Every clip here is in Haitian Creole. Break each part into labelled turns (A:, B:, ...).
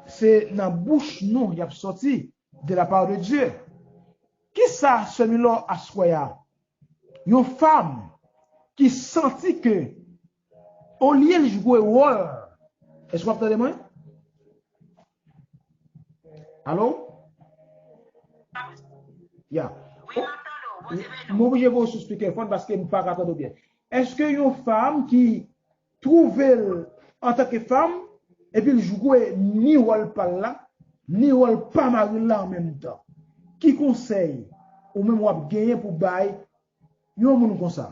A: Se nan bouch nou yap soti de la part de Dieu. Kisa sè Milò aswè a? Yon fam ki santi ke olye li jwe wòl Èske wap tande mwen? Allo? Ya. M oblije voye sou speakerphone paske m paka tande w byen. Èske yon fam ki twouve l antanke fanm epi l jwe ni wòl pa l la ni wòl pa mari l la an menm tan. Ki konsèy ou menm w ap genyen pou bay yon moun konsa?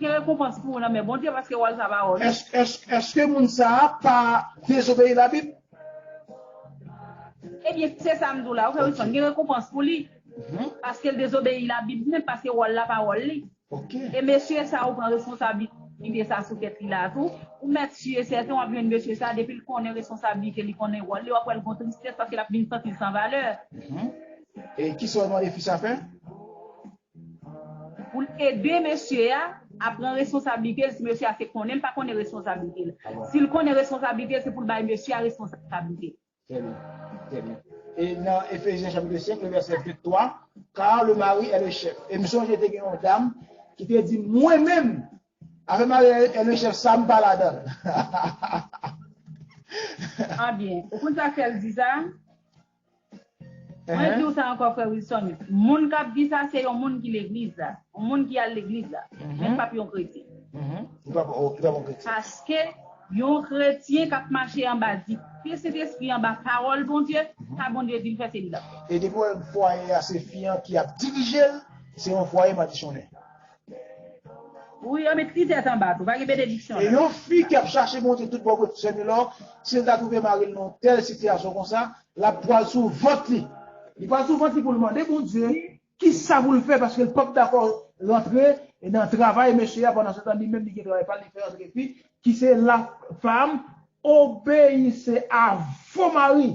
B: Gen rekonpans pou ou nan men Bondye paske wòl sa pa wòl ou. Èske moun
A: sa a pa dezobeyi Labib?
B: Ebyen, se sa m di w la, ou fè responn, gen rekonpans pou li paske l dezobeyi Labib menm paske wòl la pa wòl li. E mesye sa a ou pran responsablite sa a sou tèt li la a tou, ou mèt si e sèten w ap jwenn mesye sa a depi l konnen responsablite li, konnen wòl li, w ap wè l gon tristès paske l ap vin santi l san valè. E
A: ki sa w mande fi sa a fè?
B: Pou l ede mesye a, a pran responsablite l si mesye a se konnen l pa konnen responsablite l. Si l konnen responsablite l, se pou l bay mesye a responsablite l. Trè byen. Trè
A: byen. E nan Efezyen chapitre 5 le vèsè 23, Car le mari est le chef. E m sonje te gen yon dam ki te di, Mwen menm, afè mari a est le chef sa m pa ladan l.
B: An byen. Ou konn sa k fè l di sa? Mwen diw sa ankò frè Wilson, moun kap di sa se yon moun ki legliz la, yon moun ki al legliz la, men li pap yon kretyen. Li pap yon kretyen. Paske yon kretyen kap mache anba dikte Sentespri anba pawòl Bondye, sa Bondye dil fè se li lap fè. E depi wè fwaye
A: a se fi an ki ap dirijel, se yon fwaye madichonnen.
B: Wi yo met titèt anba tou pa gen benediksyon la. E yon fi ki ap
A: chache monte tout bon kot sè Milor, si l ta twouve mari l nan yon tèl sitiyasyon konsa, l ap pwal sou vant li. Li pwal sou vant li pou l mande Bondye kisa pou l fè paske l pap dakò rantre nan travay mesye a pandansetan li menm li gen travay pa l li fè antre fi Ki se la fam obeyise a vo mari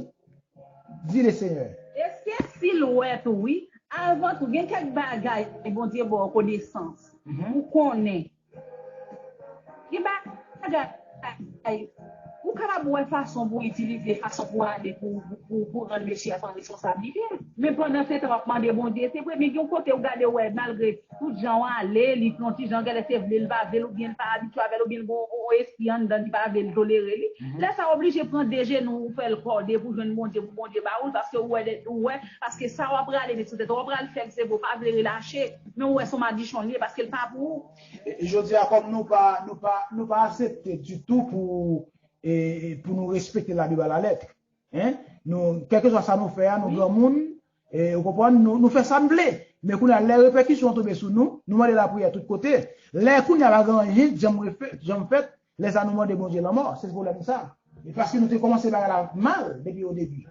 A: di le seyè. Eske sil
B: wet ou wi. Avan tou gen kek bagay bondye baw konesans pou konnen gen bagay ou kapab wè fason pou itilize fason pou ale pou rann mesye a pran responsablite men pandan setan wap mande bondye se vre men gen yon kote ou gade ou wè malgre Tout jan w ale, li yon ti jan gèlè se vle l pa vle l oubyen li pa abitye avè l oubyen li gen yon espri anndan l ki pa vle l tolere li. Lè sa w oblije pran de jenou w ou fè l kòde pou jwenn Bondye pou Bondye ba ou l paske ou wè de ou wè paske sa w ap rale met sou tèt ou w ap pral fè l se vre ou pa vle relache men ou wè se yon madichon li ye paske l pa pou ou. E jodi a kòm
A: nou pa nou pa nou pa asepte ditou pou e pou nou respekte labib a la lètre hein nou kèlkeswa sa nou fè a nou granmoun Ou konprann? Nou fè sa n vle. Men kounye a, lè repèkisyon an tonbe sou nou, nou mande lapriyè tout kote. Lè kounye a pa gen anyen k janm fèt, lè sa a nou mande Bondye lanmò. Se pwoblèm sa a. E paske nou te kòmanse bagay la mal depi odebi.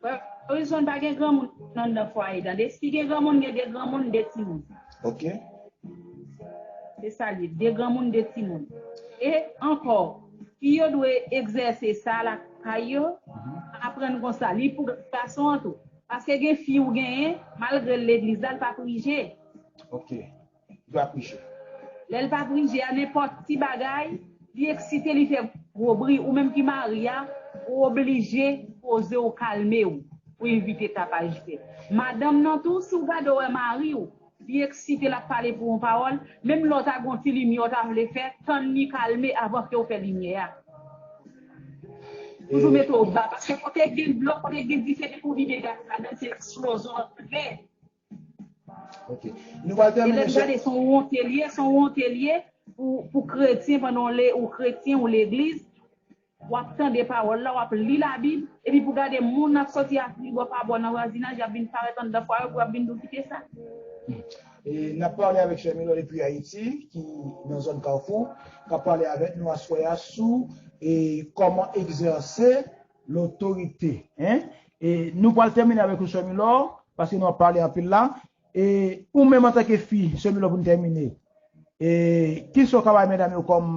A: Frè Wilson,
B: pa gen granmoun anndan fwaye tande. Si gen granmoun, gen de granmoun, de timoun. Ok. Se sa l ye. De granmoun, de timoun. E ankò. Fi yo dwe egzèse sa lakay yo, aprann konsa, li pou gason an tou. Paske gen fi ou genyen, malgre l legliz la, l pa prije. Ok.
A: Li pa prije. Lè l pa
B: prije a, nenpòt ti bagay, li eksite, li fè gwo bri, ou menm ki mari a, ou oblije poze w, kalme w, pou evite tapaj fèt. Madanm nan tou, si w gade w wè mari w, Li eksite, l ap pale pou yon pawòl, menm lè w ta gen yon ti limyè w ta vle fè, tann li kalme avan ke w fè limyè a. Toujou mete w ba, paske kote k gen dlo, kote k gen dife, depi w vide gaz ladan l, se eksplozon l ap fè.
A: Ok. Nou pral tèmine, chè. E lè n gade, se yon wonte
B: l ye, se yon wonte l ye pou kretyen pandan w le, ou kretyen, ou legliz. W ap tande pawòl la, w ap li Labib, epi pou gade moun ap sòti ak li bò pa bò nan vwazinaj, y ap vin parèt anndan fwa yo pou y ap vin di w kite sa.
A: E n ap pale avèk sè Milò depi Ayiti ki nan zòn Kafou k ap pale avèk nou aswè a sou kòman egzèse lotorite. E nou pral tèmine avèk ou sè Milò paske nou ap pale anpil la. E ou menm antanke fi sè Milò pou n tèmine, e kisa w ka bay medam yo kòm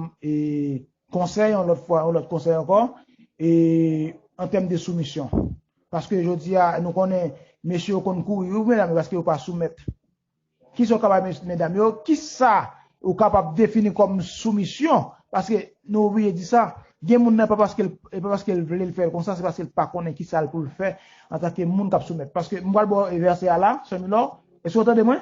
A: Konsèy yon lòt fwa, yon lòt konsèy ankò, e an tèm de soumisyon. Paske jodi a, nou konnen, mesye yo konn kouri wi pou medam yo paske yo pa soumèt. Ki sa ou ka bay mes, medam yo? Ki sa ou kapab defini kòm soumisyon? Paske, nou oblije di sa, gen moun nan pa paske l, e pa paske l vle l fè l konsa, se paske l pa konnen ki sa l pou l fè antanke moun k ap soumèt. Paske, m pral ba w vèsè a la, Sè Milò, èske ou tande mwen?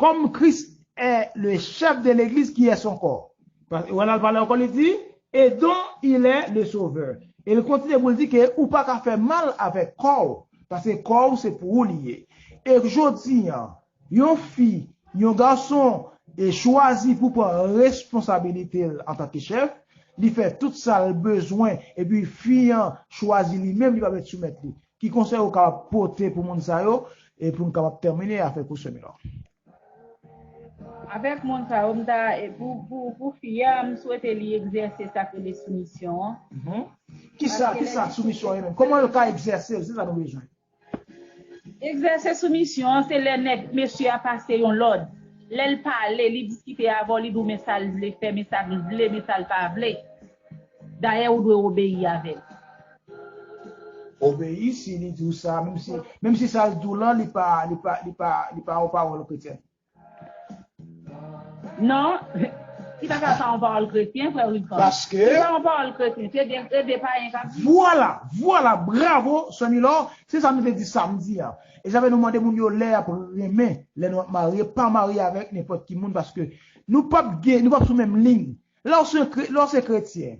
A: Kòm Kris è le chèf de legliz ki è son kò. Paske wè lal pale ankò li di et don il è le sovè. E l kontinye pou l di ke ou pa ka fè mal avèk kò w, paske kò w se pou ou li ye. E k jodi an, yon fi, yon gason e chwazi pou pran responsabilite l antanke chèf, li fè tout sa l bezwen epi fi an chwazi li menm li pa mèt soumèt li. Ki konsèy ou kapab pote pou moun sa yo e pou n kapab tèmine avèk ou semi lan? Avèk
B: moun sa yo m ta pou fi a m swete li egzèse sa k rele soumisyon
A: an. Kisa soumisyon ye menm? Kòman yo ka egzèse l? Se sa nou bezwen.
B: Egzèse soumisyon an se lè nèg mesye a pase yon lòd. Lè l pale, li diskite avè w, li di w men sa l vle fè, men sa l vle, men sa l pa vle. Dayè ou dwe obeyi avè l.
A: Obeyi si li di w sa, menm si sa l di w lan li pa yon pawòl kretyen. Non, ki ta ka pa yon pawòl kretyen, frè
B: Wilson? Paske. Si l pa yon pawòl
A: kretyen,
B: se de e de payen k ap di. Vwala! Vwala!
A: Bravo, sè Milò! Se sa nou te di samdi a. E sa fè nou mande moun yo lè y ap renmen, lè nou ap marye, pa marye avèk nenpòt ki moun paske nou p ap gen, nou p ap sou menm liy. Lè w se kretyen,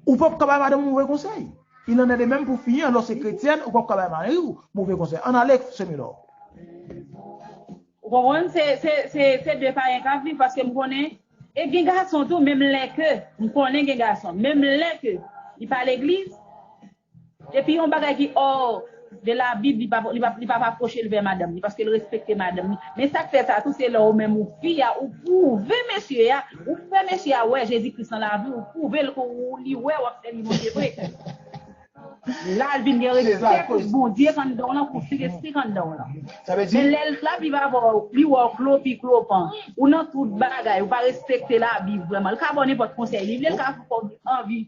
A: ou pap ka bay madanm ou move konsèy. Il en est de même pou fi an, lè w se kretyèn, ou pap ka bay mari w move konsèy. Ann ale, Semilò. Ou konprann?
B: Se de payen k ap viv, paske m konnen, e gen gason tou, menm lè ke, m konnen gen gason, menm lè ke li pa legliz, Depi yon bagay ki hors de la bible li pa li pap aprochel vè madanm li paskel respekte madanm li men sak fè sa tou se lè ou menm ou fi a ou prouve mesye a ou fè mesye a wè Jezi Kris nan laviw ou prouvel ke ou li wè wap sèvi Bondye vre lal vin gen respè pou Bondye k anndanw lan pou Sentespri k anndanw lan men lèl
A: ap viv avèw
B: li wèw klo pi klo pan ou nan tout bagay ou pa respekte la bible vrèman li ka baw nenpòt konsèy li vle li ka fèw anvi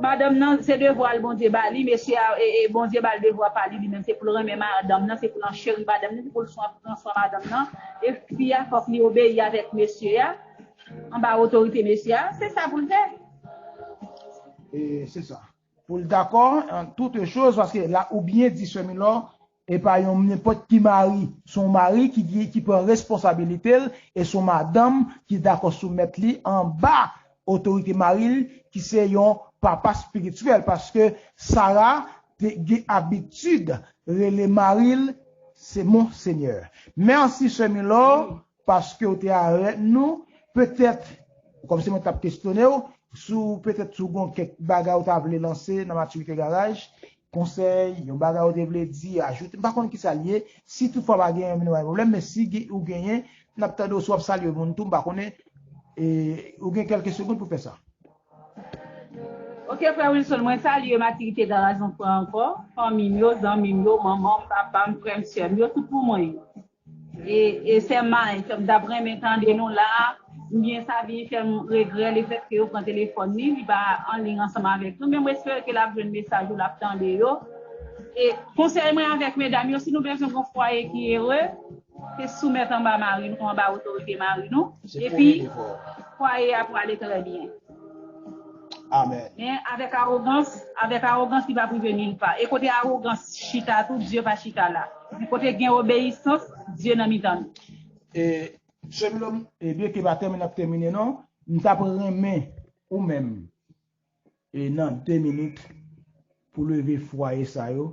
B: Madanm nan se devwa l Bondye ba li, mesye a Bondye ba l devwa pa li, li menm se pou l renmen madanm nan, se pou l ancheri madanm nan, se pou l pran swen madanm nan, e fi a fòk li obeyi avèk mesye a, anba otorite mesye a, se sa pou l fè.
A: E se sa. Pou l dakò an toute chose paske la ou byen di sè Milò E pa yon nenpòt ki mari. Se yon mari ki gen, ki pran responsabilite l, e se yon madanm ki dakò soumèt li anba otorite mari l, ki se yon papa spirityèl. Paske Sara te gen abitid rele mari l se Monsenyè. Mèsi sè Milor Paske w te arête nou, petèt, kòm se mwen t ap kestyonnen w, sou petèt sou gon kèk bagay ou ta vle lanse nan Maturité Garage, konsèy, yon bagay ou te vle di, ajoute, m pa konn kisa l ye, si tout fwa pa genyen nou pa gen pwoblèm, men si ou genyen, n ap tande w si w ap salye moun tou, m pa konnen, ou gen kèlke segonn pou fè sa.
B: Ok frè Wilson, mwen salye Matirite Garaj yon fwa ankò, fanmi m yo, zanmi m yo, manman m, papa m, frè m, sè m yo, tout pou mwen yo. E e sè Mike m tap renmen tande nou la ou byen Sabi fèm regrè le fèt ke yo pran telefòn li, li pa an liy ansanm avèk nou men mwen espere ke lap jwenn mesaj ou lap tande yo e konsèy mwen avèk medam yo si nou bezwen gon fwaye ki ere se soumèt anba mari nou anba otorite mari nou epi fwaye a prale trè byen.
A: Amen. Men, avèk
B: awogans, avèk awogans li pap rive nil pa. E kote awogans chita tou, Dye pa chita la. Men kote gen obeyisans, Dye nan mitan nou. E,
A: Sè Milòm, e byen ke batèm nan ap tèmine non, m tap renmen ou menm, e nan 2 minit, pou leve fwaye sa yo,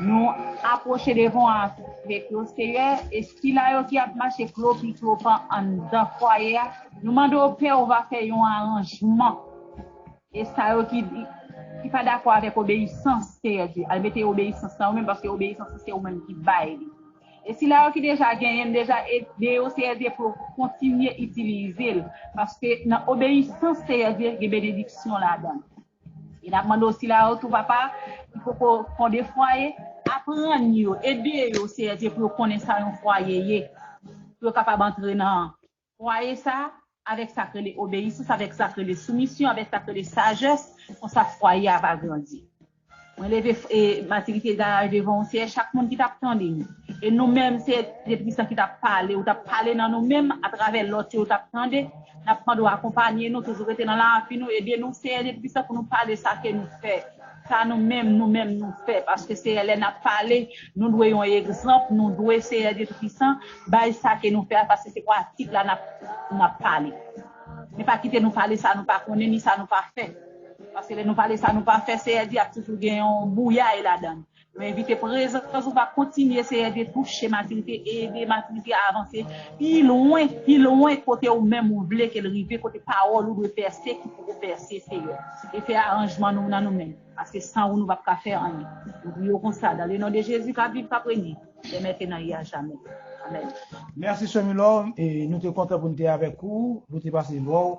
B: Nou apwoche devan an ak vè klo Seyè e sila yo ki ap mache klo pi klo pan anndan fwaye a, nou mande w Pè ou va fè yon aranjman e sa yo ki ki pa dakò avèk obeyisans Seyè Dye al mete obeyisans nan yo menm paske obeyisans lan se ou menm ki bay li e sila yo ki deja genyen l deja ede yo Seyè Dye pou yo kontinye itilize l paske nan obeyisans Seyè Dye gen benediksyon ladan l. E n ap mande w sila yo tou, Papa, ki poko fonde fwaye, aprann yo, ede yo, Seyè Dye, pou yo konnen sa yon fwaye ye, pou yo kapab antre nan fwaye sa a avèk sa k rele obeyisans, avèk sa k rele soumisyon, avèk sa k rele sajès, konsa fwaye a va grandi. Mwen leve matirite garaj devan yon seyè chak moun ki tap tande nou e nou menm seyè de Tristan ki tap pale ou tap pale nan nou menm atravè lòt yo tap tande nap mande w akonpanye nou toujou rete nan lavi nou ede nou seyè de Tristan pou nou pale sa ke nou fè sa nou menm nou menm nou fè paske seyè lè nap pale nou dwe yon egzanp nou dwe seyè de Tristan bay sa ke nou fè a paske se pratik la nap pale men pa kite nou pale sa nou pa konnen ni sa nou pa fè. Paske lè nou pale sa nou pa fè Seyè di ap toujou gen yon bouyay ladan. Nou envite prezans ou va kontinye Seyè Dye touche matirite e ede matirite a avanse pi lwen, pi lwen kote ou menm ou vle ke l rive, kote pawòl ou dwe pèse ki poko pèse Seyè. E fè aranjman nou nan nou menm. Paske san ou nou pap ka fè anyen. Nou priye w konsa dan le non de Jezi kap viv kap renye dè mètenan e a jamè. Amèn. Merci soeur
A: Milor, nou te kontan pou nou te avèk ou, nou te pase vè w.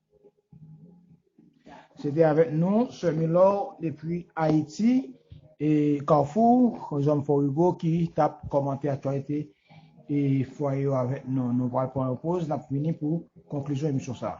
A: Se te avèk nou, Sè Milor, depi Ayiti, e Carrefour, zòn Fò Rigo, ki t ap kòmante aktyalite e fwaye yo avèk nou. Nou pral pran yon poz, n ap vini pou konklizyon emisyon sa a.